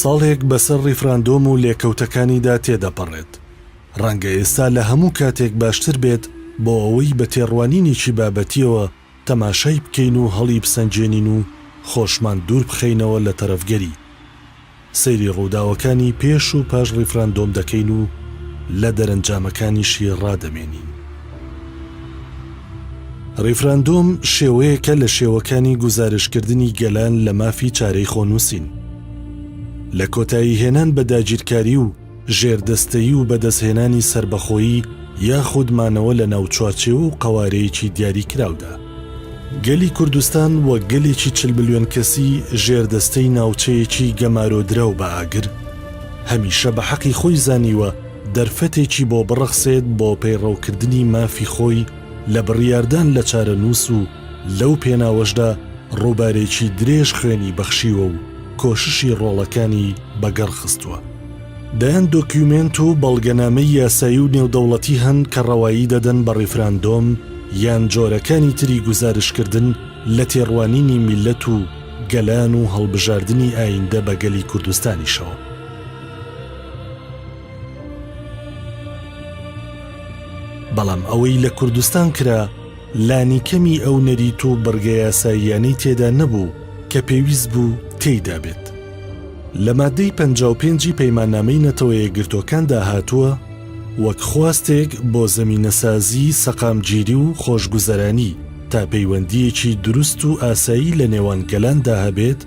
ساڵێک بەسەر ڕیفراندۆم و لێکەوتەکانیدا تێدەپەڕێت، ڕەنگە ئێستا لە هەموو کاتێک باشتر بێت بۆ ئەوەی بە تێڕوانینێکی بابەتییەوە تەماشای بکەین و هەڵیبسەنگێنین و خۆشمان دووربخەینەوە لە تەرەفگەری. سەیری ڕووداوەکانی پێش و پاش ڕیفراندۆم دەکەین و لە دەرەنجامەکانیشی ڕادەمێنین. ڕیفراندۆم شێوەیەکە لە شێوەکانی گوزارشتکردنی گەلان لە مافی چارەی خۆنووسین. لە کۆتاییهێنان بە داگیرکاری و، ژێردەستەیی و بەدەستهێنانی سەربەخۆیی یاخود مانەوە لە ناو چوارچێوە و قەوارەیەکی دیاریکراودا. گەلی کوردستان وەک گەلێکی چل ملیۆن کەسی ژێردەستەی ناوچەیەکی گەمارۆدراو بە ئاگر، هەمیشە بە حەقی خۆی زانیوە دەرفەتێکی بۆ بڕەخسێت بۆ پەیڕەوکردنی مافی خۆی لە بڕیاردان لە چارەنووس و لەو پێناوەشدا ڕووبارێکی درێژ خوێنی بەخشیوە و کۆششی ڕۆڵەکانی بەگەڕ خستووە. دەیان دۆکیومێنت و بەڵگەنامەی یاسایی و نێودەوڵەتی هەن کە ڕەوایی دەدەن بە ڕیفراندۆم یان جۆرەکانی تری گوزارشتکردن لە تێڕوانینی میللەت و گەلان و هەڵبژاردنی ئایندە بە گەلی کوردستانیشەوە. بەڵام ئەوەی لە کوردستان کرا، لانیکەمی ئەو نەریت و بڕگە یاساییانەی تێدا نەبوو کە پێویست بوو تێیدا بێت. لە ماددەی پەنجا و پێنج ی پەیماننامەی نەتەوەیەکگرتووەکاندا هاتووە، وەک خواستێک بۆ زەمینەسازیی سەقامگیری و خۆشگوزەرانی تا پەیوەندییەکی دروست و ئاسایی لە نێوان گەلاندا هەبێت،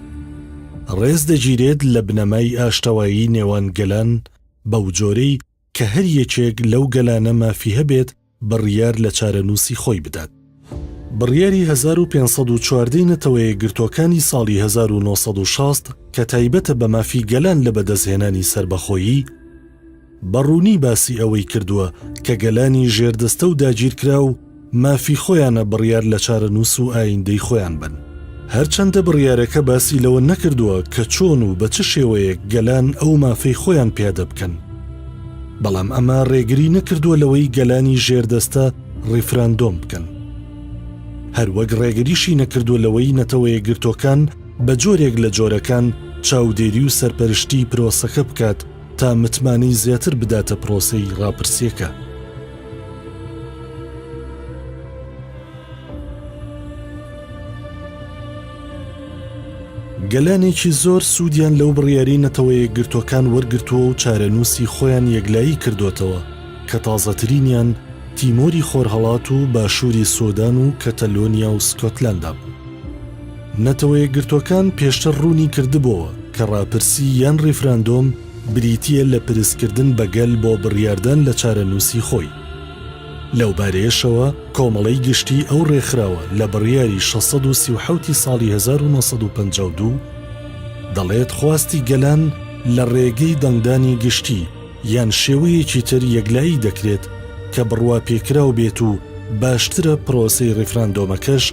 ڕێز دەگیرێت لە بنەمای ئاشتەوایی نێوان گەلان بەوجۆرەی کە هەر یەکێک لەو گەلانە مافی هەبێت بڕیار لە چارەنووسی خۆی بدات. بڕیاری هەزار و پێنج سەد و چواردە ی نەتەوەیەکگرتووەکانی ساڵی هەزار و نۆ سەد و شەست کە تایبەتە بە مافی گەلان لە بەدەستهێنانی سەربەخۆیی، بە ڕوونی باسی ئەوەی کردووە کە گەلانی ژێردەستە و داگیرکراو، مافی خۆیانە بڕیار لە چارەنووس و ئاییندەی خۆیان بەن. هەرچەندە بڕیارەکە باسی لەوە نەکردووە کە چۆن و بە چ شێوەیەک گەلان ئەو مافەی خۆیان پیادە بکەن، بەڵام ئەمە ڕێگری نەکردووە لەوەی گەلانی ژێردەستە ڕیفراندۆم بکەن. هەروەک ڕێگریشی نەکردووە لەوەی نەتەوەیەکگرتووەکان بە جۆرێک لە جۆرەکان چاودێری و سەرپەرشتیی پرۆسەکە بکات، تا متمانەی زیاتر بداتە پرۆسەی ڕاپرسیەکە. گەلانێکی زۆر سوودیان لەو بڕیاری نەتەوە یەکگرتوەکان وەرگرتووە و چارەنووسی خۆیان یەکلایی کردوەتەوە کە تازەترینیان تیمۆری خۆرهەڵات و باشووری سۆدان و کەتەلۆنیا و سکۆتلەندا بوو. نەتەوەیەکگرتووەکان پێشتر ڕوونی کردبۆوە کە ڕاپرسی یان ڕیفراندۆم بریتییە لە پرسکردن بە گەل بۆ بڕیاردان لە چارەنووسی خۆی. لەوبارەیەشەوە کۆمەڵەی گشتیی ئەو ڕێکخراوە لە بڕیاری شەش سەد و سی و حەوت ی ساڵی هەزار و نۆ سەد و پەنجا و دوو دەڵێت خواستی گەلان لە ڕێگەی دەنگدانی گشتی یان شێوەیەکی تر یەکلایی دەکرێت کە بڕواپێکراو بێت و باشترە پرۆسەی ڕیفراندۆمەکەش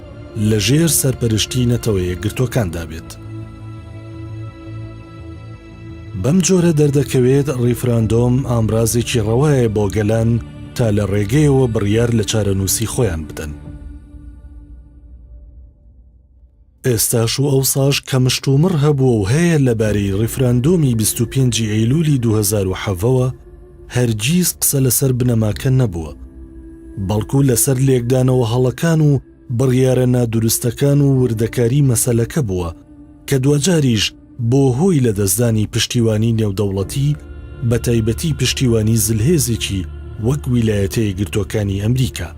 لە ژێر سەرپەرشتی نەتەوە یەکگرتووەکاندا بێت. بەم جۆرە دەردەکەوێت ڕیفراندۆم ئامرازێکی ڕەوایە بۆ گەلان تا لە ڕێگەیەوە بڕیار لە چارەنووسی خۆیان بدەن. ئێستاش و ئەوساش کە مشتومڕ هەبووە و هەیە لەبارەی ڕیفراندۆمی 25 ئەیلولی 2007ەوە هەرگیز قسە لەسەر بنەماکە نەبووە، بەڵکو لەسەر لێکدانەوە هەڵەکان و بڕیارە نادروستەکان و وردەکاری مەسەلەکە بووە کە دواجاریش بووە هۆی لەدەستدانی پشتیوانی نێودەوڵەتی بەتایبەتی پشتیوانی زلهێزێکی وەک ویلایەتە یەکگرتووەکانی ئەمریکا.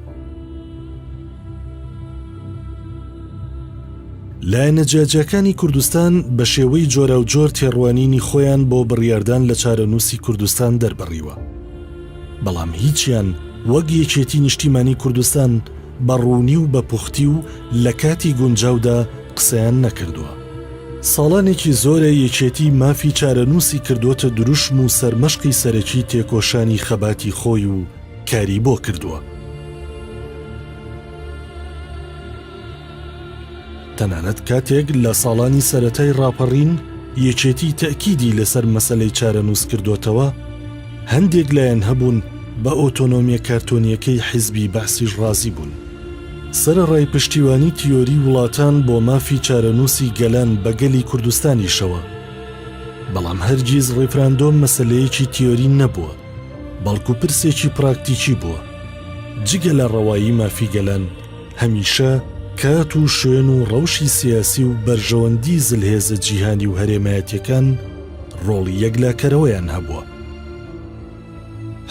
لایەنە جیاجیاکانی کوردستان بە شێوەی جۆراوجۆر تێڕوانینی خۆیان بۆ بڕیاردان لە چارەنووسی کوردستان دەربڕیوە. بەڵام هیچیان وەک یەکێتی نیشتیمانی کوردستان بە ڕوونی و بە پوختی و لە کاتی گونجاودا قسەیان نەکردووە. ساڵانێکی زۆرە یەکێتی مافی چارەنووسی کردووەتە دروشم و سەرمەشقی سەرەکی تێکۆشانی خەباتی خۆی و، کاری بۆ کردووە. تەنانەت کاتێک لە ساڵانی سەرەتای ڕاپەڕین یەکێتی تەکیدی لەسەر مەسەلەی چارەنووس کردوتەوە، هەندێک لایەن هەبوون بە ئۆتۆنۆمیە کارتۆنیەکەی حیزبی بەعسیش ڕازی بوون. سەرەڕای پشتیوانی تیۆری وڵاتان بۆ مافی چارەنووسی گەلان بە گەلی کوردستانیشەوە، بەڵام هەرگیز ڕیفراندۆم مەسەلەیەکی تیۆری نەبووە. بەڵکو پرسێکی پراکتیکی بووە. جگە لە ڕەوایی مافی گەلان، هەمیشە کات و شوێن و ڕەوشی سیاسی و بەرژەوەندی زلهێزە جیهانی و هەرێمایەتیەکان ڕۆڵی یەکلاکەرەوەیان هەبووە.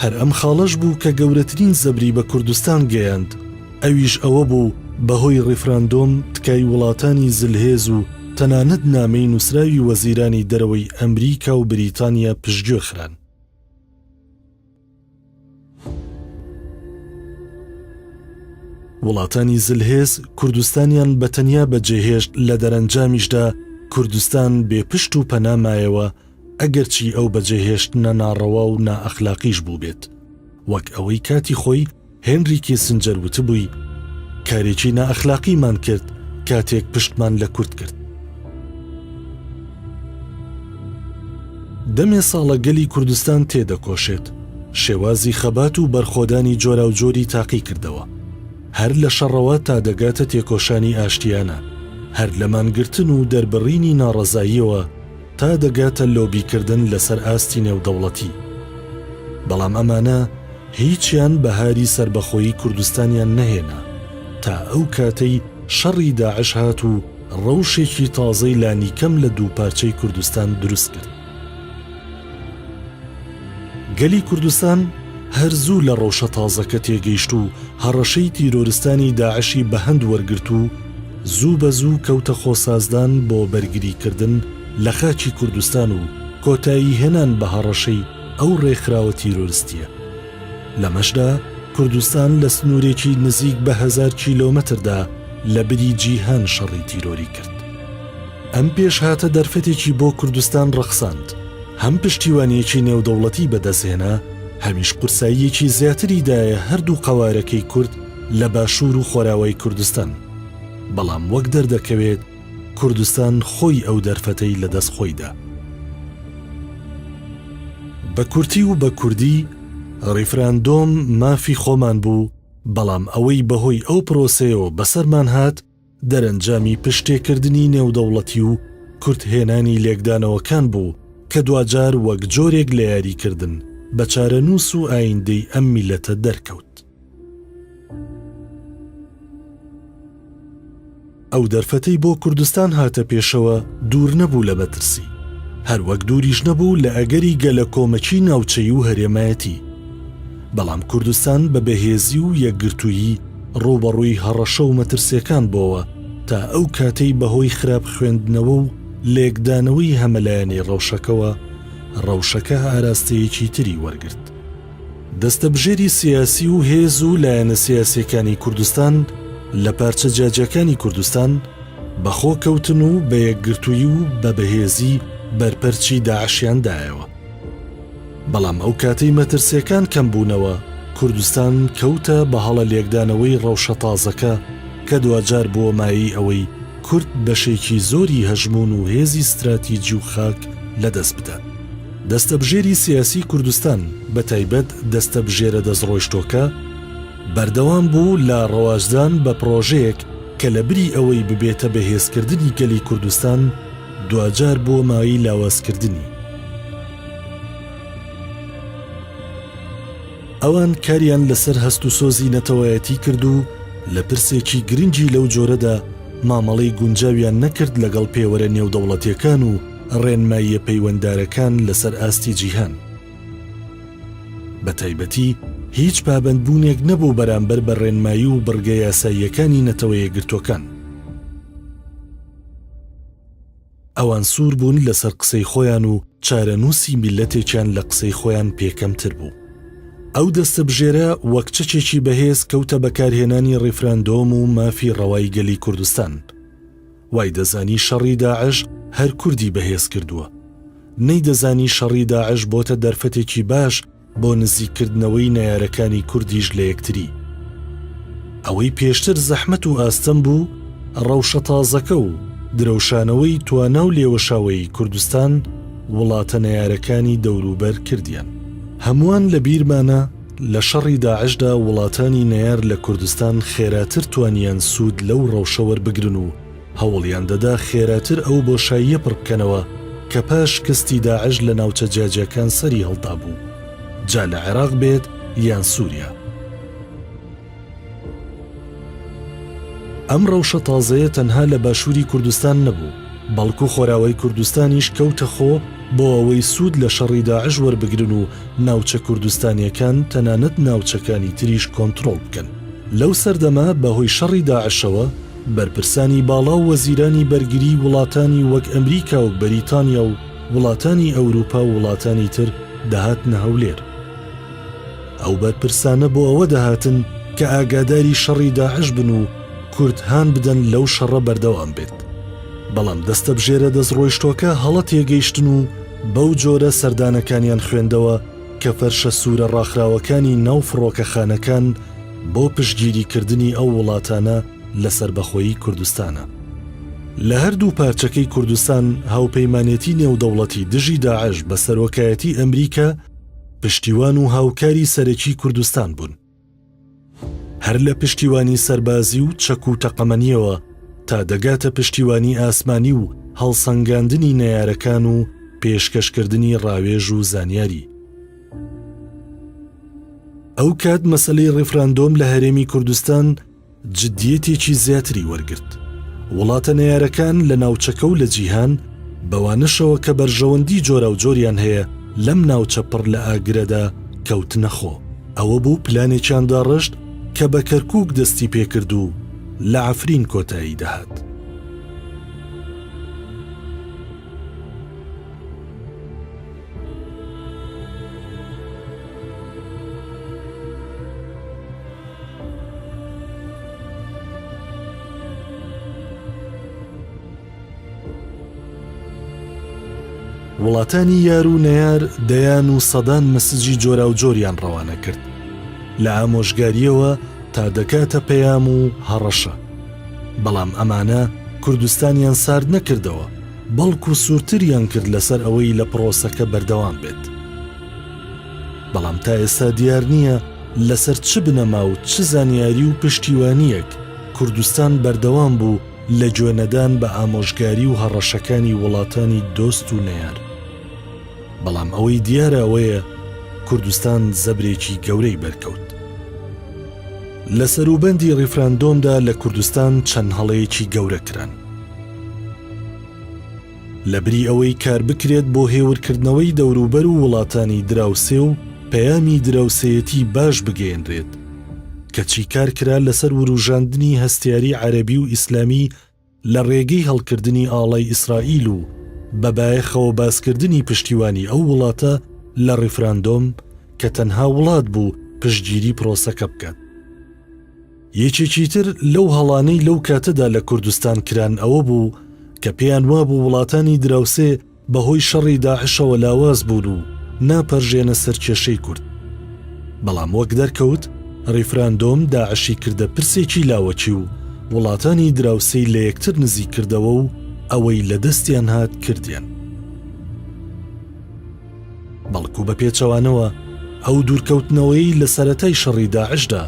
هەر ئەم خاڵەش بوو کە گەورەترین زەبری بە کوردستان گەیاند، ئەویش ئەوە بوو بەهۆی ڕیفراندۆم تکای وڵاتانی زلهێز و تەنانەت نامەی نووسراوی وەزیرانی دەرەوەی ئەمریکا و بریتانیا پشتگوێ خران. وڵاتانی زلهێز کوردستانیان بە تەنیا بەجێهێشت لە دەرەنجامیشدا کوردستان بێ پشت و پەنامایەوە ئەگەرچی ئەو بەجێهێشتنە ناڕەوا و نائەخلاقیش بووبێت وەک ئەوەی کاتی خۆی هێنری کیسنجەر وتبووی، کارێکی نائەخلاقیمان کرد کاتێک پشتمان لە کورد کرد. دەمێ ساڵە گەلی کوردستان تێدەکۆشێت، شێوازی خەبات و بەرخۆدانی جۆراوجۆری تاقی کردەوە. هەر لە شەڕەوە تا دەگاتە تێکۆشانی ئاشتیانە، هەر لە مانگرتن و دەربڕینی ناڕەزاییەوە، تا دەگاتە لۆبیکردن لەسەر ئاستی نێودەوڵەتی، بەڵام ئەمانە هیچیان بەهاری سەربەخۆیی کوردستانیان نەهێنا تا ئەو کاتەی شەڕی داعش هات و ڕەوشێکی تازەی لانیکەم لە دووپارچەی کوردستان دروستکرد. گەلی کوردستان هەر زوو لە ڕەوشە تازەکە تێگەیشت و هەڕەشەی تیرۆرستانی داعشی بە هەند وەرگرت و زوو بە زوو کەوتە خۆسازدان بۆ بەرگری کردن لە خاکی کوردستان و کۆتایی هێنان بە هەڕەشەی ئەو ڕێکخراوە تیرۆرستییە. لەمەشدا کوردستان لە سنوورێکی نزیک بە هەزار کیلۆمەتردا لە بری جیهان شەڕی تیرۆری کرد. ئەم پێشهاتە دەرفەتێکی بۆ کوردستان ڕەخساند. هەم پشتیوانییەکی نێودەوڵەتی بەدەستهێنا، هەمیش قورساییەکی زیاتری دایە هەردوو قەوارەکەی کورد لە باشوور و خۆراوای کوردستان. بەڵام وەک دەردەکەوێت کوردستان خۆی ئەو دەرفەتەی لە دەست خۆی دا. بە کورتی و بە کوردی، ڕیفراندۆم مافی خۆمان بوو، بەڵام ئەوەی بەهۆی ئەو پرۆسەیەوە بەسەرمان هات، دەرەنجامی پشتێکردنی نێودەوڵەتی و کورتهێنانی لێکدانەوەکان بوو کە دواجار وەک جۆرێک لە یاریکردن بە چارەنووس و ئایندەی ئەم میللەتە دەرکەوت. ئەو دەرفەتەی بۆ کوردستان هاتە پێشەوە دوور نەبوو لە مەترسی، هەروەک دووریش نەبوو لە ئەگەری گەلەکۆمەکی ناوچەیی و هەرێمایەتی. بەڵام کوردستان بە بەهێزی و یەکگرتوویی ڕووبەڕووی هەڕەشە و مەترسیەکان بۆوە تا ئەو کاتەی بەهۆی خراپ خوێندنەوە و لێکدانەوەی هەمەلایەنەی ڕەوشەکەوە ڕەوشەکە ئاراستەیەکی تری وەرگرت. دەستەبژێری سیاسی و هێز و لایەنە سیاسیەکانی کوردستان لە پارچە جیاجیاکانی کوردستان بە خۆ کەوتن و بە یەکگرتووی و بە بەهێزی بەرپەرچی داعشیان دایەوە. بەڵام ئەو کاتەی مەترسیەکان کەم بوونەوە، کوردستان کەوتە بە هەڵە لێکدانەوەی ڕەوشە تازەکە کە دواجار بووە مایەی ئەوەی کورد بەشێکی زۆری هەژموون و هێزی ستراتیجی و خاک لە دەست بدات. دەستەبژێری سیاسی کوردستان بە تایبەت دەستەبژێرە دەستڕۆیشتۆکە، بەردەوام بوو لە ڕەواجدان بە پڕۆژەیەک کە لە بری ئەوەی ببێتە بەهێزکردنی گەلی کوردستان، دواجار بووە مایەی لاوازکردنی. ئەوان کاریان لەسەر هەست و سۆزی نەتەوایەتی کرد و لە پرسێکی گرنگی لەو جۆرەدا مامەڵەی گونجاویان نەکرد لەگەڵ پێوەرە نێودەوڵەتیەکان و ڕێنماییە پەیوەندارەکان لەسەر ئاستی جیهان. بەتایبەتی هیچ پابەندبوونێک نەبوو بەرامبەر بە ڕێنمایی و بڕگە یاساییەکانی نەتەوەیەکگرتووەکان. ئەوان سوور بوون لەسەر قسەی خۆیان و چارەنووسی میللەتێکیان لە قسەی خۆیان پێ کەمتر بوو. ئەو دەستەبژێرە وەک چەکێکی بەهێز کەوتە بەکارهێنانی ڕیفراندۆم و مافی ڕەوای گەلی کوردستان. وای دەزانی شەڕی داعش هەر کوردی بەهێز کردووە. نەیدەزانی شەڕی داعش بۆتە دەرفەتێکی باش بۆ نزیک کردنەوەی نەیارەکانی کوردیش لە یەکتری. ئەوەی پێشتر زەحمەت و ئاستەم بوو، ڕەوشە تازەکە و درەوشانەوەی توانا و لێوەشاوەیی کوردستان وڵاتە نەیارەکانی دەوروبەر کردیان. هەمووان لە بیرمانە لە شەڕی داعشدا وڵاتانی نەیار لە کوردستان خێراتر توانیان سوود لەو ڕەوشە وەربگرن و، هەوڵیان دەدا خێراتر ئەو بۆشاییە پڕبکەنەوە کە پاش شکستی داعش لە ناوچە جیاجیاکان سەری هەڵدابوو، جا لە عێراق بێت یان سوریا. ئەم ڕەوشە تازەیە تەنها لە باشوری کوردستان نەبوو، بەڵکو خۆراوای کوردستانیش کەوتە خۆ بۆ ئەوەی سود لە شەڕی داعش وەربگرن و ناوچە کوردستانیەکان تەنانەت ناوچەکانی تریش کۆنترۆڵ بکەن. لەو سەردەمە بەهۆی شەڕی داعشەوە، بەرپرسانی باڵا و وەزیرانی بەرگریی وڵاتانی وەک ئەمریکا و بەریتانیا و وڵاتانی ئەوروپا و وڵاتانی تر دەهاتنە هەولێر. ئەو بەرپرسانە بۆ ئەوە دەهاتن کە ئاگاداری شەڕی داعش بن و کورد هان بدەن لەو شەڕە بەردەوام بێت. بەڵام دەستەبژێرە دەستڕۆیشتووەکە هەڵە تێگەیشتن و بەو جۆرە سەردانەکانیان خوێندەوە کە فەرشە سوورە ڕاخراوەکانی ناو فڕۆکەخانەکان بۆ پشتگیریکردنی ئەو وڵاتانە لە سەربەخۆیی کوردستانە. لە هەردوو پارچەکەی کوردستان هاوپەیمانێتی نێودەوڵەتی دژی داعش بە سەرۆکایەتی ئەمریکا پشتیوان و هاوکاری سەرەکی کوردستان بوون. هەر لە پشتیوانی سەربازی و چەک و تەقەمەنیەوە تا دەگاتە پشتیوانی ئاسمانی و هەڵسەنگاندنی نەیارەکان و پێشکەشکردنی ڕاوێژ و زانیاری ئەو کات مەسلەی ڕیفراندۆم لە هەرێمی کوردستان جدییەتێکی زیاتری وەرگرت. وڵاتە نەیارەکان لە ناوچەکە و لە جیهان، بەوانەشەوە کە بەرژەوەندی جۆراوجۆریان هەیە لەم ناوچە پڕ لە ئاگرەدا، کەوتنە خۆ. ئەوە بوو پلانێکیان داڕشت کە بە کەرکووک دەستی پێ کرد و لە عەفرین کۆتایی دەهات. وڵاتانی یار و نەیار دەیان و سەدان مسجی جۆراوجۆریان ڕەوانە کرد لە ئامۆژگاریەوە تا دەکاتە پەیام و هەڕەشە بەڵام ئەمانە کوردستانیان سارد نەکردەوە، بەڵکو سوورتریان کرد لەسەر ئەوەی لە پڕۆسەکە بەردەوام بێت. بەڵام تا ئێستا دیار نییە لەسەر چ بنەما و چ زانیاری و پشتیوانییەک کوردستان بەردەوام بوو لە گوێنەدان بە ئامۆژگاری و هەڕەشەکانی وڵاتانی دۆست و نەیار. بەڵام ئەوەی دیارە ئەوەیە کوردستان زەبرێکی گەورەی بەرکەوت. لە سەروبەندی ڕیفراندۆمدا لە کوردستان چەند هەڵەیەکی گەورە کران. لە بری ئەوەی کار بکرێت بۆ هێورکردنەوەی دەوروبەر و وڵاتانی دراوسێ و پەیامی دراوسێیەتی باش بگەیەنرێت، کەچی کار کرا لەسەر وروژاندنی هەستیاری عەرەبی و ئیسلامی لە ڕێگەی هەڵکردنی ئاڵای ئیسرائیل و بە بایەخەوە باسکردنی پشتیوانی ئەو وڵاتە لە ڕیفراندۆم کە تەنها وڵات بوو پشتگیری پرۆسەکە بکات. یەکێکی تر لەو هەڵانەی لەو کاتەدا لە کوردستان کران ئەوە بوو کە پێیان وابوو وڵاتانی دراوسێ بەهۆی شەڕی داعشەوە لاواز بوون و ناپەرژێنە سەر کێشەی کورد. بەڵام وەک دەرکەوت ریفراندۆم داعشی کردە پرسێکی لاوەکی و وڵاتانی دراوسێی لە یەکتر نزیک کردەوە و ئەوەی لە دەستیان هات کردیان. بەڵکو بە پێچەوانەوە ئەو دوورکەوتنەوەی لە سەرەتای شەڕی داعشدا،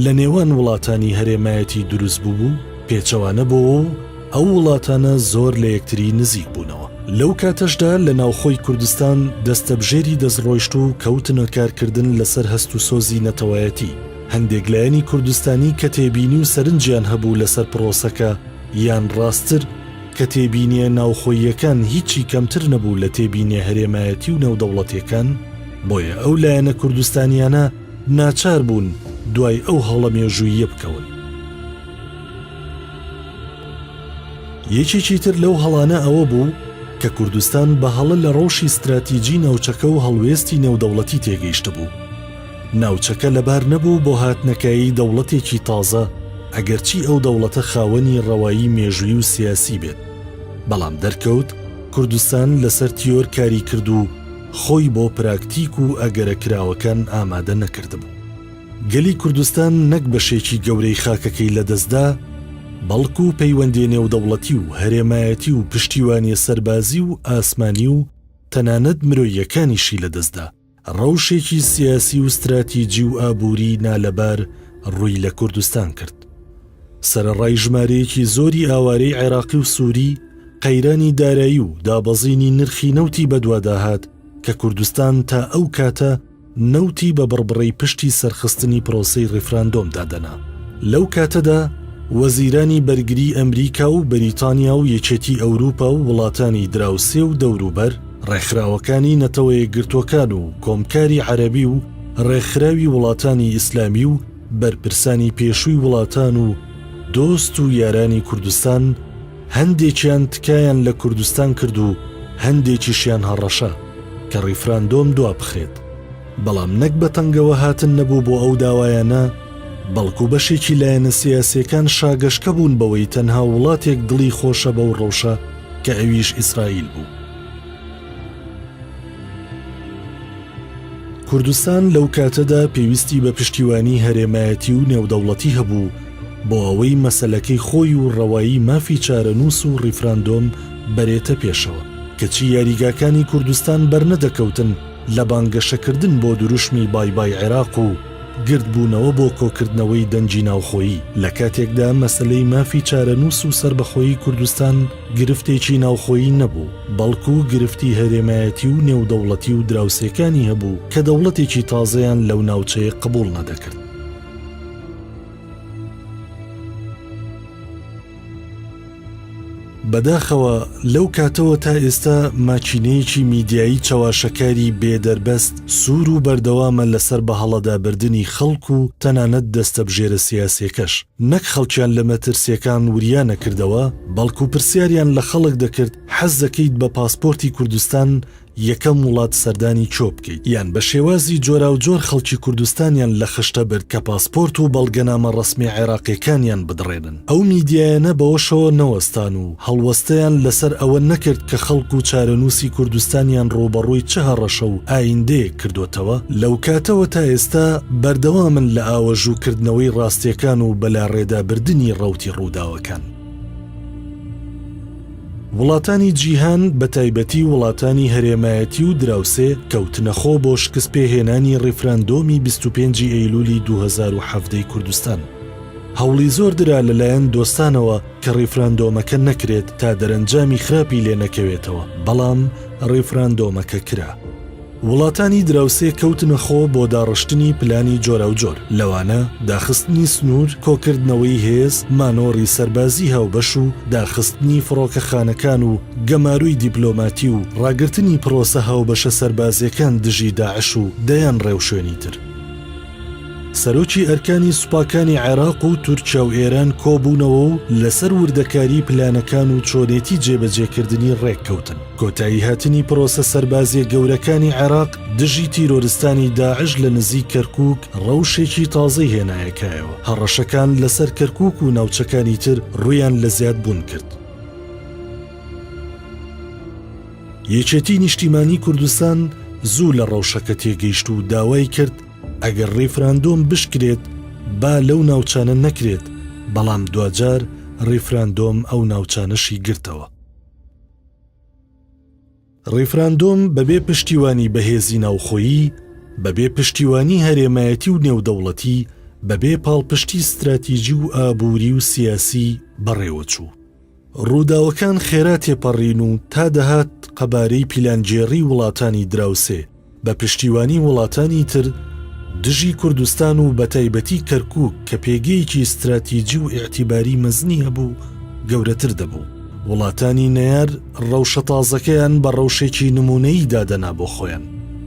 لە نێوان وڵاتانی هەرێمایەتی دروست ببوو پێچەوانە بۆوە و ئەو وڵاتانە زۆر لە یەکتری نزیک بوونەوە. لەو کاتەشدا لە ناوخۆی کوردستان دەستەبژێری دەست ڕۆیشت و کەوتنە کارکردن لەسەر هەست و سۆزی نەتەوایەتی. هەندێک لایەنی کوردستانی کە تێبینی و سەرنجیان هەبوو لەسەر پڕۆسەکە یان ڕاستتر کە تێبینیە ناوخۆییەکان هیچی کەمتر نەبوو لە تێبینیە هەرێمایەتی و نێودەوڵەتیەکان، بۆیە ئەو لایەنە کوردستانیانە، ناچار بوون دوای ئەو هەڵە مێژووییە بکەون. یەکێکی تر لەو هەڵانە ئەوە بوو کە کوردستان بە هەڵە لە ڕەوشی ستراتیجی ناوچەکە و هەڵوێستی نێودەوڵەتی تێگەیشتبوو. ناوچەکە لەبار نەبوو بۆ هاتنەکایەی دەوڵەتێکی تازە، ئەگەرچی ئەو دەوڵەتە خاوەنی ڕەوایی مێژووی و سیاسی بێت، بەڵام دەرکەوت کوردستان لەسەر تیۆر کاری کرد و، خۆی بۆ پراکتیک و ئەگەرە کراوەکان ئامادە نەکردبوو. گەلی کوردستان نەک بەشێکی گەورەی خاکەکەی لەدەستدا، بەڵکو پەیوەندیە نێودەوڵەتی و هەرێمایەتی و پشتیوانیە سەربازی و ئاسمانی و تەنانەت مرۆییەکانیشی لەدەستدا، رەوشێکی سیاسی و ستراتیجی و ئابووری نالەبار رووی لە کوردستان کرد. سەرەڕای ژمارەیەکی زۆری ئاوارەی عێراقی و سووری، قەیرانی دارایی و دابەزینی نرخی نەوتی بەدواداهات کە کوردستان تا ئەو کاتە نەوتی بە بڕبڕەی پشتی سەرخستنی پرۆسەی ڕیفراندۆم دادەنا. لەو کاتەدا وەزیرانی بەرگری ئەمریکا و بەریتانیا و یەکێتی ئەوروپا و وڵاتانی دراوسێ و دەوروبەر، ڕێکخراوەکانی نەتەوەیەکگرتووەکان و کۆمکاری عەرەبی و ڕێکخراوی وڵاتانی ئیسلامی و، بەرپرسانی پێشووی وڵاتان و دۆست و یارانی کوردستان هەندێکیان تکایان لە کوردستان کرد و هەندێکیشیان هەڕەشە کە ڕیفراندۆم دوابخرێت، بەڵام نەک بە تەنگەوە هاتن نەبوو بۆ ئەو داوایانە، بەڵکو بەشێکی لایەنە سیاسیەکان شاگەشکە بوون بەوەی تەنها وڵاتێک دڵی خۆشە بەو ڕەوشە کە ئەویش ئیسرائیل بوو. کوردستان لەو کاتەدا پێویستی بە پشتیوانی هەرێمایەتی و نێودەوڵەتی هەبوو بۆ ئەوەی مەسەلەکەی خۆی و ڕەوایی مافی چارەنووس و ڕیفراندۆم بەرێتە پێشەوە کەچی یاریگاکانی کوردستان بەرنەدەکەوتن لە بانگەشەکردن بۆ دروشمی بای بای عێراق و گردبوونەوە بۆ کۆکردنەوەی دەنگی ناوخۆیی لە کاتێکدا مەسەلەی مافی چارەنووس و سەربەخۆیی کوردستان گرفتێکی ناوخۆیی نەبوو، بەڵکو گرفتی هەرێمایەتی و نێودەوڵەتی و دراوسێکانی هەبوو کە دەوڵەتێکی تازەیان لەو ناوچەیە قبوڵ نەدەکرد. بەداخەوە لەو کاتەوە تا ئێستا ماکینەیەکی میدیایی چەواشەکاری بێ دەربەست سوور و بەردەوامە لەسەر بەهەڵەدابردنی خەڵک و تەنانەت دەستەبژێرە سیاسیەکەش، نەک خەڵکیان لە مەترسیەکان وریا نەکردەوە، بەڵکو پرسیاریان لە خەڵک دەکرد حەز دەکەیت بە پاسپۆرتی کوردستان یەکەم وڵات سەردانی چۆ بکەیت یان بە شێوازی جۆراوجۆر خەڵکی کوردستانیان لە خشتە برد کە پاسپۆرت و بەڵگەنامە ڕەسمی عێراقیەکانیان بدڕێنن ئەو میدیایانە بەوەشەوە نەوەستان و هەڵوەستەیان لەسەر ئەوە نەکرد کە خەڵک و چارەنووسی کوردستانیان ڕووبەڕووی چ هەڕەشە و ئاییندەیەک کردۆتەوە، لەوکاتەوە تا ئێستا بەردەوامن لە ئاوەژوو کردنەوەی ڕاستیەکان و بەلاڕێدا بردنی ڕەوتی ڕووداوەکان. وڵاتانی جیهان بە تایبەتی وڵاتانی هەرێمایەتی و دراوسێ کەوتنە خۆ بۆ شکست پێ هێنانی ڕیفراندۆمی بیست و پێنج ی ئەیلولی دوو هەزار و حەڤدە ی کوردستان. هەوڵی زۆر درا لە لایەن دۆستانەوە، کە ڕیفراندۆمەکە نەکرێت تا دەرەنجامی خراپی لێ نەکەوێتەوە، بەڵام ڕیفراندۆمەکە کرا. وڵاتانی دراوسێ کەوتنە خۆ بۆ داڕشتنی پلانی جۆراوجۆر، لەوانە داخستنی سنوور، کۆکردنەوەی هێز، مانۆڕی سەربازی هاوبەش و داخستنی فڕۆکەخانەکان و گەماروی دیپلۆماتی و ڕاگرتنی پڕۆسە هاوبەشە سەربازیەکان دژی داعش و دەیان ڕێوشوێنی تر. سەرۆکی ئەرکانی سوپاکانی عێراق و تورکیا و ئێران کۆبوونەوە و لەسەر وردەکاری پلانەکان و چۆنێتی جێبەجێکردنی ڕێککەوتن کۆتایی هاتنی پرۆسە سەربازیە گەورەکانی عێراق دژی تیرۆرستانی داعش لە نزیک کەرکک ڕەوشێکی تازەی هێنایەکایەوە هەڕەشەکان لەسەر کەرکک و ناوچەکانی تر ڕویان لە زیاد بوون کرد. یەکێتی نیشتیمانی کوردستان زوو لە ڕەوشەکە تێگەیشت و داوای کرد ئەگەر ڕیفراندۆم بشکرێت با لەو ناوچانە نەکرێت، بەڵام دواجار ڕیفراندۆم ئەو ناوچانەشی گرتەوە. ڕیفراندۆم بەبێ پشتیوانی بەهێزی ناوخۆیی، بەبێ پشتیوانی هەرێمایەتی و نێودەوڵەتی، بەبێ پاڵپشتی ستراتیجی و ئابووری و سیاسی بەڕێوەچوو. ڕووداوەکان خێرا تێپەڕین و تا دەهات قەبارەی پیلانگێڕی وڵاتانی دراوسێ بە پشتیوانی وڵاتانی تر دژی کوردستان و بەتایبەتی کەرکووک کە پێگەیەکی ستراتیجی و ئیعتیباری مەزنی هەبوو گەورەتر دەبوو. وڵاتانی نەیار ڕەوشە تازەکەیان بە ڕەوشێکی نموونەیی دادەنا بۆ خۆیان.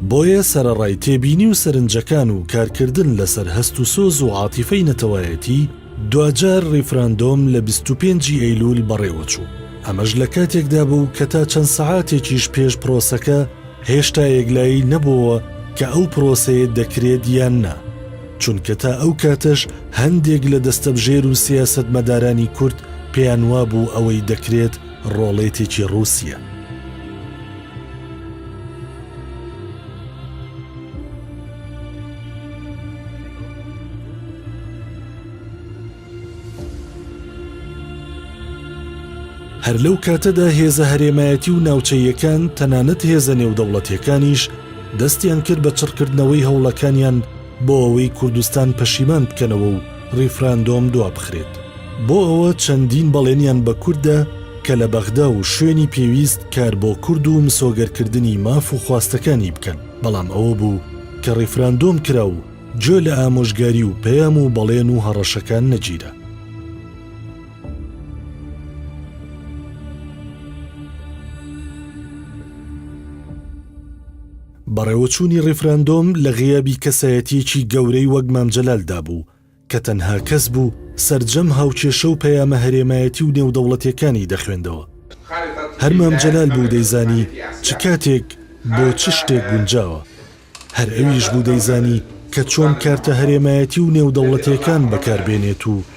بۆیە سەرەڕای تێبینی و سەرنجەکان و کارکردن لەسەر هەست و سۆز و عاتیفەی نەتەوایەتی، دواجار ڕیفراندۆم لە بیست و پێنج ی ئەیلوول بەڕێوەچوو، ئەمەش لە کاتێکدا بوو کە تا چەند سەعاتێکیش پێش پرۆسەکە هێشتا یەکلایی نەبۆوە کە ئەو پرۆسەیە دەکرێت یان نا، چونکە تا ئەو کاتەش هەندێک لە دەستەبژێر و سیاسەتمەدارانی کورد پێیان وابوو ئەوەی دەکرێت ڕۆڵێتێکی ڕووسیە. هەر لەو کاتەدا هێزە هەرێمایەتی و ناوچەییەکان تەنانەت هێزە نێودەوڵەتیەکانیش دەستیان کرد بە چڕکردنەوەی هەوڵەکانیان بۆ ئەوەی کوردستان پەشیمان بکەنەوە و ڕیفراندۆم دوابخرێت. بۆ ئەوە چەندین بەڵێنیان بە کورد دا کە لە بەغدا و شوێنی پێویست کار بۆ کورد و مسۆگەرکردنی ماف و خواستەکانی بکەن، بەڵام ئەوە بوو کە ڕیفراندۆم کرا و گوێ لە ئامۆژگاری و پەیام و بەڵێن و هەڕەشەکان نەگیرا. بەڕێوەچوونی ڕیفراندۆم لە غیابی کەسایەتیەکی گەورەی وەک مام جەلال دا بوو کە تەنها کەس بوو سەرجەم هاوکێشە و پەیامە هەرێمایەتی و نێودەوڵەتیەکانی دەخوێندەوە. هەر مام جەلال بوو دەیزانی چ کاتێک بۆ چ شتێک گونجاوە. هەر ئەویش بوو دەیزانی کە چۆن کارتە هەرێمایەتی و نێودەوڵەتیەکان بەکار بێنێت و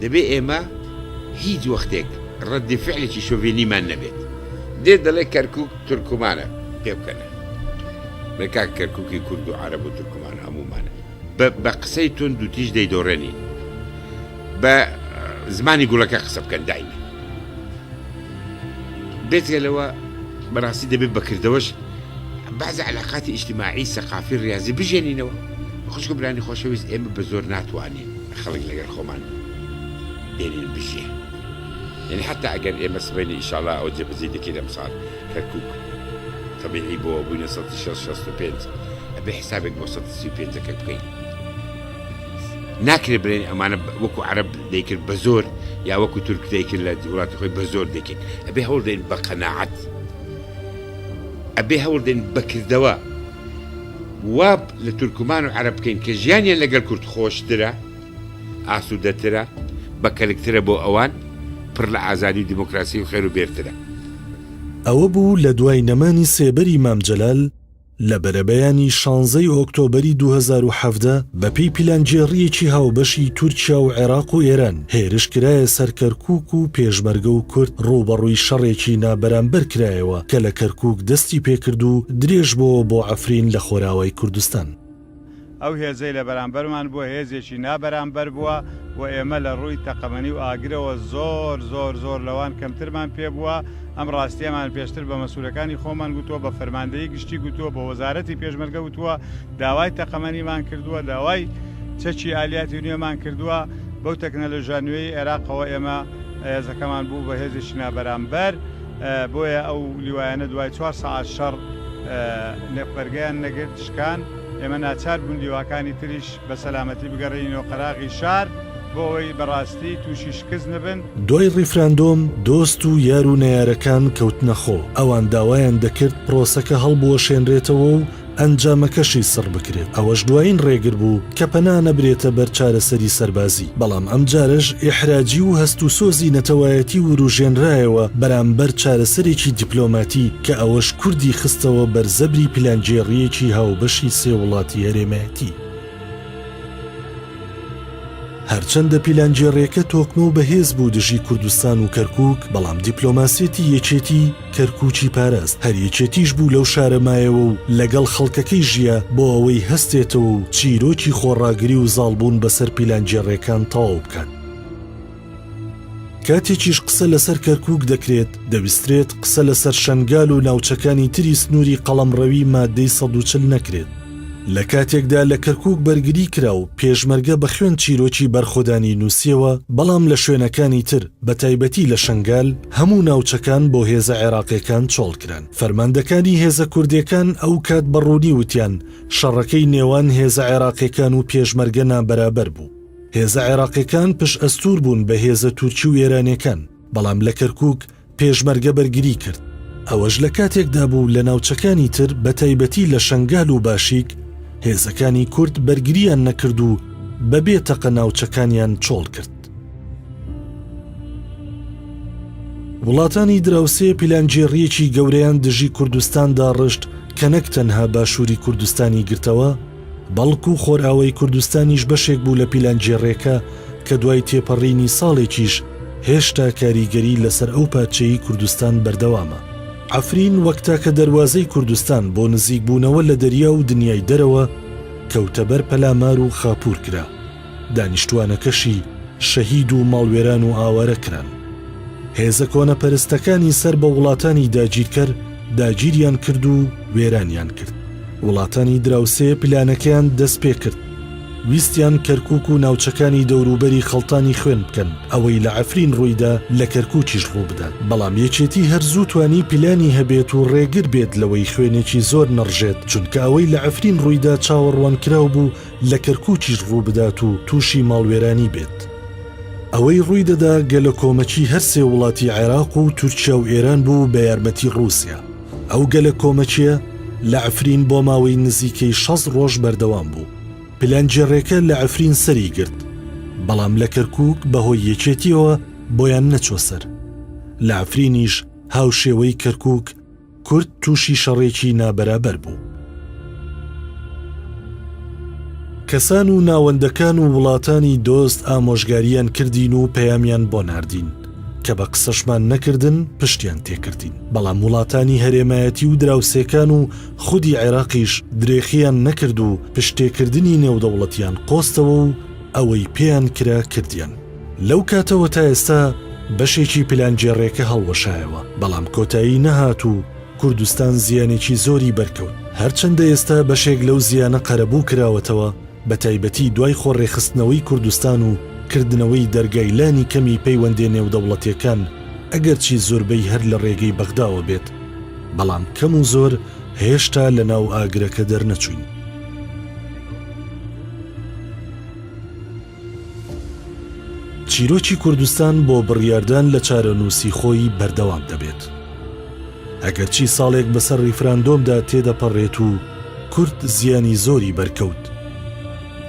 دەبێت ئێمە هیچ وەختێک ڕەدی فعلێکی شۆڤێنیمان نەبێت. دێت دەڵێت کەرکوک تورکمانە، پێبکەنە. بەی کاک کەرکوکی کورد و عەرەب و تورکمان هەموومانە. بە بە قسەی توند و تیژ دەیدۆڕێنین. بە زمانی گوڵەکە قسە بکەن دایمە. بێجگە لەوە بەڕاستی دەبێت بە کردەوەش بەعزێ عەلاقاتی ئیجتیماعی، سەقافی، ڕیازی بژێنینەوە. خوشک و برانی خۆشەویست ئێمە بە زۆر ناتوانین. خەڵک لەگەر خۆمان دێنین بژیێ یەنی حەتا ئەگەر ئێمە سبەینێ ئیشاڵا ئەو جێبەجێی دەکەین ئەمساڵ کەرکوک تەبیعی بۆ بووینە سەد شەست شەست و پێنج ئەبێ حسابێک بۆ سەد سی و پێنج دەکەر بکەین ناکرێت بڵێن ئەمانە وەکو عەرب دەیکرد بە زۆر یا وەکو تورک دەیکرد لە وڵاتی خۆی بە زۆر دەکرد ئەبێ هەوڵ دەین بە قەناعەت ئەبێ هەوڵ دەین بەکردەوە وا لە تورکمان و عەرەب بکەین کە ژیانیان لەگەل کورد خۆشترە، ئاسودەترە، بە کەلکترە بۆ ئەوان، پڕ لە ئازادی و دیموکراسی و خێر و بێرترە. ئەوە بوو لە دوای نەمانی سێبەری مام جەلال لە بەرەبەیانی شانزە ی ئۆکتۆبەری دوو هەزار و حەڤدە بە پێی پیلانگێڕییەکی هاوبەشی تورکیا و عێراق و ئێران، هێرش کرایە سەر کەرکووک و پێشمەرگە و کورد ڕووبەڕووی شەڕێکی نابەرامبەر کرایەوە کە لە کەرکووک دەستی پێکرد و درێژ بۆوە بۆ عەفرین لە خۆراوای کوردستان. ئەو هێزەی لە بەرامبەرمان بووە هێزێکی نابەرامبەر بووە و ئێمە لە ڕووی تەقەمەنی و ئاگرەوە زۆر زۆر زۆر لەوان کەمترمان پێ بووە، ئەم ڕاستیەمان پێشتر بە مەسوولەکانی خۆمان گوتووە، بە فەرماندەیی گشتی گوتووە، بە وەزارەتی پێشمەرگە وتووە، داوای تەقەمەنیمان کردووە، داوای چەکی ئالیاتی نوێمان کردووە، بەو تەکنەلۆژیا نوێی عێراقەوە ئێمە هێزەکەمان بوو بە هێزێکی نابەرامبەر، بۆیە ئەو لیوایانە دوای چوار سەعات شەڕ نەپبەرگەیان نەگرت، شکان، ئێمە ناچار بوون لیواکانی تریش بە سەلامەتی بگەڕێنینەوە قەراغی شار، بۆ ئەوەی بە ڕاستی تووشی شکست نەبن. دوای ڕیفراندۆم دۆست و یار و نەیارەکان کەوتنە خۆ، ئەوان داوایان دەکرد پرۆسەکە هەڵبوەشێنرێتەوە و ئەنجامەکەشی سڕ بکرێت، ئەوەش دوایین ڕێگر بوو کە پەنا نەبرێتە بەر چارەسەری سەربازی، بەڵام ئەمجارەش ئیحراجی و هەست و سۆزی نەتەوایەتی وروژێنرایەوە بەرامبەر چارەسەرێکی دیپلۆماتی کە ئەوەش کوردی خستەوە بەر زەبری پیلانگێڕییەکی هاوبەشی سێ وڵاتی هەرێمایەتی. هەرچەندە پیلانگێڕییەکە تۆکمە و بەهێز بوو دژی کوردستان و کەرکووک، بەڵام دیپلۆماسیەتی یەکێتی، کەرکووکی پاراست، هەر یەکێتیش بوو لەو شارە مایەوە و لەگەڵ خەڵکەکەی ژیا بۆ ئەوەی هەستێتەوە و چیرۆکی خۆڕاگری و زاڵبوون بەسەر پیلانگێڕێکان تەواو بکات. کاتێکیش قسە لەسەر کەرکووک دەکرێت، دەبیسترێت قسە لەسەر شەنگال و ناوچەکانی تری سنووری قەڵەمڕەوی مادەی سەد و چل نەکرێت، لە کاتێکدا لە کەرکووک بەرگری کرا و پێشمەرگە بە خوێن چیرۆکی بەرخۆدانی نووسیەوە، بەڵام لە شوێنەکانی تر بە تایبەتی لە شەنگال هەموو ناوچەکان بۆ هێزە عێراقیەکان چۆڵ کران. فەرماندەکانی هێزە کوردێکان ئەو کات بە ڕوونی وتیان شەڕەکەی نێوان هێزە عێراقیەکان و پێشمەرگە نابەرابەر بوو. هێزە عێراقیەکان پشت ئەستوور بوون بە هێزە تورکی و ئێرانیەکان. بەڵام لە کەرکووک پێشمەرگە بەرگری کرد. ئەوەش لە کاتێکدا بوو لە ناوچەکانی تر بە تایبەتی لە شەنگال و باشیک هێزەکانی کورد بەرگرییان نەکرد و بە بێ تەقە ناوچەکانیان چۆڵ کرد. وڵاتانی دراوسێ پیلانگێڕییەکی گەورەیان دژی کوردستان داڕشت کە نەک تەنها باشووری کوردستانی گرتەوە، بەڵکو خۆرئاوای کوردستانیش بەشێک بوو لە پیلانگێڕێکە کە دوای تێپەڕینی ساڵێکیش هێشتا کاریگەری لەسەر ئەو پارچەیەی کوردستان بەردەوامە. عەفرین وەک تاکە دەروازەی کوردستان بۆ نزیکبوونەوە لە دەریا و دنیای دەرەوە، کەوتە بەر پەلامار و خاپوور کرا. دانیشتوانەکەشی شەهید و ماڵوێران و ئاوارە کران. هێزە کۆنەپەرستەکانی سەر بە وڵاتانی داگیرکەر داگیریان کرد و وێرانیان کرد. وڵاتانی دراوسێ پلانەکەیان دەست پێ کرد. ویستیان کەرکووک و ناوچەکانی دەوروبەری خەڵتانی خوێن بکەن، ئەوەی لە عەفرین ڕووی دا لە کەرکووکیش ڕوو بدات. بەڵام یەکێتی هەر زوو توانی پلانی هەبێت و ڕێگر بێت لەوەی خوێنێکی زۆر نەڕژێت، چونکە ئەوەی لە عەفرین ڕووی دا چاوەڕوانکراو بوو لە کەرکوکیش ڕووبدات و تووشی ماڵوێرانی بێت. ئەوەی ڕووی دەدا گەلەکۆمەکی هەر سێ وڵاتی عێراق و تورکیا و ئێران بوو بە یارمەتی ڕووسیا. ئەو گەلەکۆمەکیە لە عفرین بۆ ماوەی نزیکەی شەست ڕۆژ بەردەوام بوو. پلانگێڕێکە لە عفرین سەری گرت، بەڵام لە کەرکوک بە هۆی یەکێتیەوە بۆیان نەچۆ سەر. لە عفرینیش هاوشێوەی کەرکوک، کورد تووشی شەڕێکی نابەرابەر بوو. کەسان و ناوەندەکان و وڵاتانی دۆست ئامۆژگاریان کردین و پەیامیان بۆ ناردین، کە بە قسەشمان نەکردن پشتیان تێکردین، بەڵام وڵاتانی هەرێمایەتی و دراوسێکان و خودی عێراقیش درێخیان نەکرد و پشتتێکردنی نێودەوڵەتیان قۆستەوە و ئەوەی پێیان کرا کردیان. لەو کاتەوە تا ئێستا بەشێکی پلانگێڕێکە هەڵوەشایەوە، بەڵام کۆتایی نەهات و کوردستان زیانێکی زۆری بەرکەوت، هەرچەندە ئێستا بەشێک لەو زیانە قەرەبوو کراوەتەوە، بەتایبەتی دوای خۆڕێکخستنەوەی کوردستان و کردنەوەی دەرگای لانی کەمی پەیوەندێ نێودەوڵەتێکان، ئەگەرچی زۆربەی هەر لە ڕێگەی بەغداوە بێت، بەڵام کەم و زۆر هێشتا لە ناو ئاگرەکە دەرنەچووین. چیرۆکی کوردستان بۆ بڕیاردان لە چارەنووسی خۆی بەردەوام دەبێت. ئەگەرچی ساڵێک بەسەر ڕیفراندۆمدا تێدەپەڕێت و کورد زیانی زۆری بەرکەوت.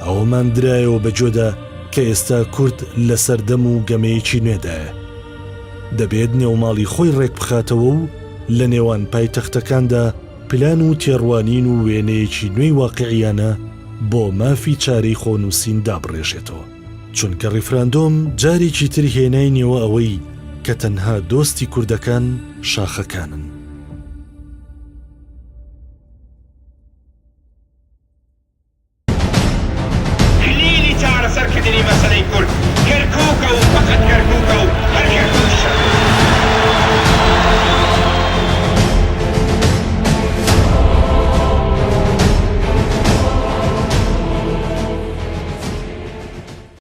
ئەوەمان درایەوە بە گوێدا کە ئێستا کورد لە سەردەم و گەمەیەکی نوێدایە. دەبێت نێوماڵی خۆی ڕێکبخاتەوە و لە نێوان پایتەختەکاندا، پلان و تێڕوانین و وێنەیەکی نوێی واقیعیانە بۆ مافی چارەی خۆنووسین دابڕێژێتەوە، چونکە ڕیفراندۆم جارێکی تر هێناینەوە ئەوەی کە تەنها دۆستی کوردەکان شاخەکانن. کلیلی چارەسەر کردنی مەسەلەی کورد کەرکوکە و فەقەت کەرکوکە و هەر